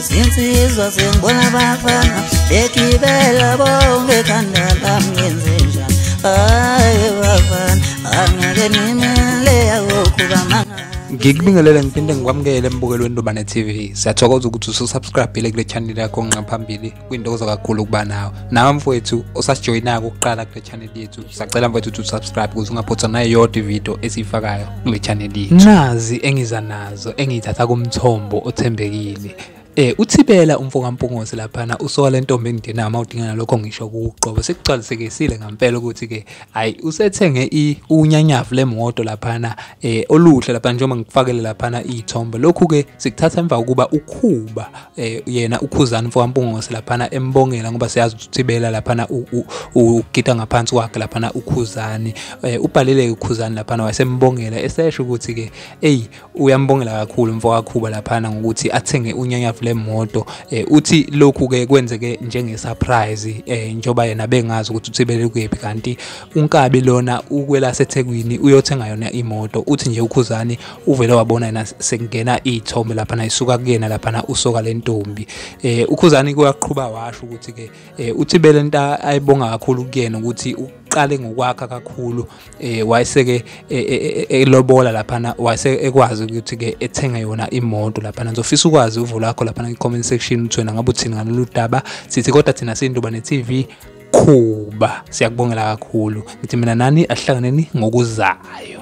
zinsizwa zengibona bafana egibela bonke ekhanda lam ngenze njani hayi bafana angeke nimele yakokhuba mangana ngikubingelele ngiphinde ngikwamukele embukelweni lobane tv siyathokoza ukuthi ususubscribile kule channel yakho nqaphambili kwintokozo kakhulu ukuba nawe nawe mfowethu osasijoyinako ukuqala kule channel yethu sacela mfowethu ukuthi usubscribe ukuze ungaphothwa nayo yodwa ividiyo esiyifakayo kule channel yethu nazi engiza nazo engiyithatha kumthombo othembekile Eh uthibela umfo kaMpungosi laphana usoka lentombi engidina uma udingana lokho ngisho kuqobo sekugcwalisekisile ngempela ukuthi ke hayi usethenge i unyanyavu lemoto laphana eh oluhle laphana njengoba ngikufakele laphana izithombe lokhu ke sikuthatha emva kokuba ukhuba eh yena ukhuzani mfowampungose laphana embongela ngoba siyazi uthibela laphana ugida ngaphansi kwakhe laphana ukhuzani eh, ubhalele ukhuzani laphana wasembongela esesho ukuthi ke ey uyambongela kakhulu mfowakhuba laphana ngokuthi athenge unyanyavu lemoto eh, uthi lokhu ke kwenzeke njenge surprise eh, njoba yena bengazi ukuthi uthibele kuyephi kanti unkabi lona ukwela sethekwini uyothenga yona imoto uthi nje ukhuzani uvele wabona yena sekungena iy'thombe laphana isuka kuyena laphana usoka le ntombi um ukhuzani kuyaqhuba washo ukuthi-ke um uthi bele nto ayibonga kakhulu kuyena ukuthi uqale ngokwakha kakhulu eh wayeseke e, e, e, elobola laphana wayese ekwazi ukuthi ke ethenge yona imoto laphana ngizofisa ukwazi uvulo lakho laphana kwi-comment section ukuthi wena ngabe uthini ngalolu daba sithi kodwa thina sinduba ne-tv khuba siyakubongela kakhulu ngithi mina nani ahlanganeni ngokuzayo